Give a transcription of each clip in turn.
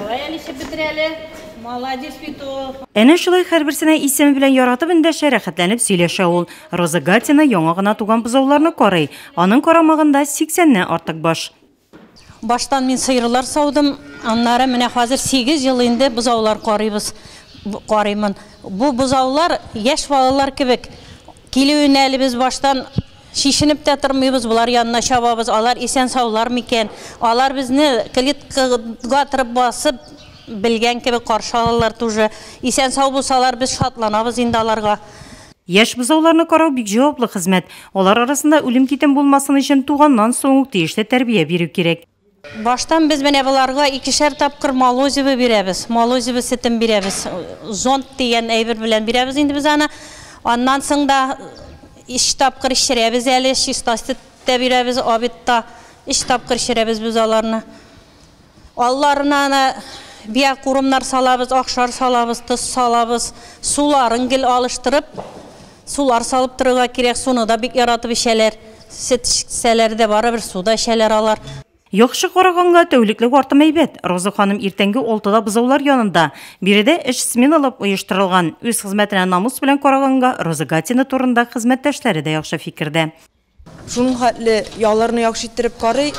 Давай әле ишеп бетер әле. Молодец бит ул. Әнә шулай һәрберсенә исеме белән яратып эндәшә, рәхәтләнеп сөйләшә ул. Роза Гатина яңа гына туган бозауларны карый. Аның карамагында 80 ннән артык баш. Баштан мин сыерлар саудым, аннары менә хәзер 8 ел инде бозаулар карыйбыз, карыймын. Бу бозаулар яшь балалар кебек, Килүенә әле без баштан чишенеп тә тормыйбыз, болар янына чабабыз, алар исән-саулар микән, алар безне клеткага тырып басып, белгән кебек каршы алалар туже. Исән-сау булсалар, без шатланабыз инде аларга. Яшь бозауларны карау бик җаваплы хезмәт. Алар арасында үлем-китем булмасын өчен туганнан соң ук тиешле тәрбия бирү кирәк. Баштан без менә боларга икешәр тапкыр молозиво бирәбез, молозиво сетен бирәбез, зонд дигән әйбер белән бирәбез инде без аны. Аннан соң да өч тапкыр эчерәбез әле, чиста сөт тә бирәбез, обед та. Өч тапкыр эчерәбез без аларны. Алларына аны биокурмнар салабыз, ахшар салабыз, тоз салабыз, суларын гел алыштырып. Сулар салып торырга кирәк, суны да бик яратып эчәләр. Сөт эчсәләр дә барыбер, су да эчәләр алар. Яхшы караганга, тәүлеклек артым әйбәт. Роза ханым иртәнге алтыда бозаулар янында. Биредә эш сменалап оештырылган. Үз хезмәтенә намус белән караганга, Роза Гатина турында хезмәттәшләре дә яхшы фикердә. Шуның хәтле яуларны яхшы иттереп карый,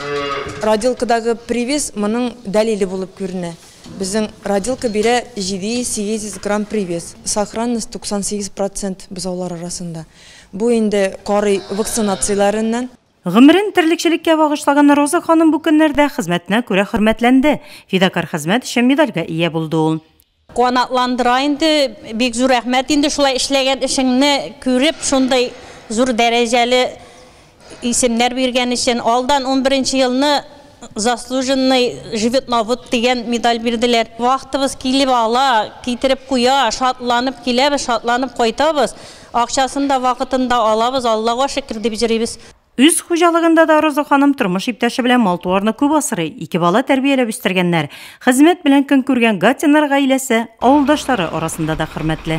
родилкадагы привес моның дәлиле булып күренә. Безнең родилка бирә 700-800 грамм привес, сохранность 98 процент бозаулар арасында. Бу инде карый вакцинацияләреннән. Гомерен терлекчелеккә багышлаган Роза ханым бу көннәрдә хезмәтенә күрә хөрмәтләнде, Фидакарь хезмәт өчен медальгә ия булды ул. Канатландыра инде, бик зур рәхмәт инде шулай эшләгән эшеңне күреп шундый зур дәрәҗәле исемнәр биргән өчен, алдан унберенче елны заслуженный животновод дигән медаль бирделәр. Вахтабыз килеп ала, китереп куя, шатланып киләбез, шатланып кайтабыз, акчасын да вакытында алабыз, Аллага шөкер дип җөрибез. Үз хуҗалыгында да Роза ханым тормыш иптәше белән мал-туарны күп асрый, ике бала тәрбияләп үстергәннәр. Хезмәт белән көн күргән Гатиннар гаиләсе, авылдашлары арасында да хөрмәтле.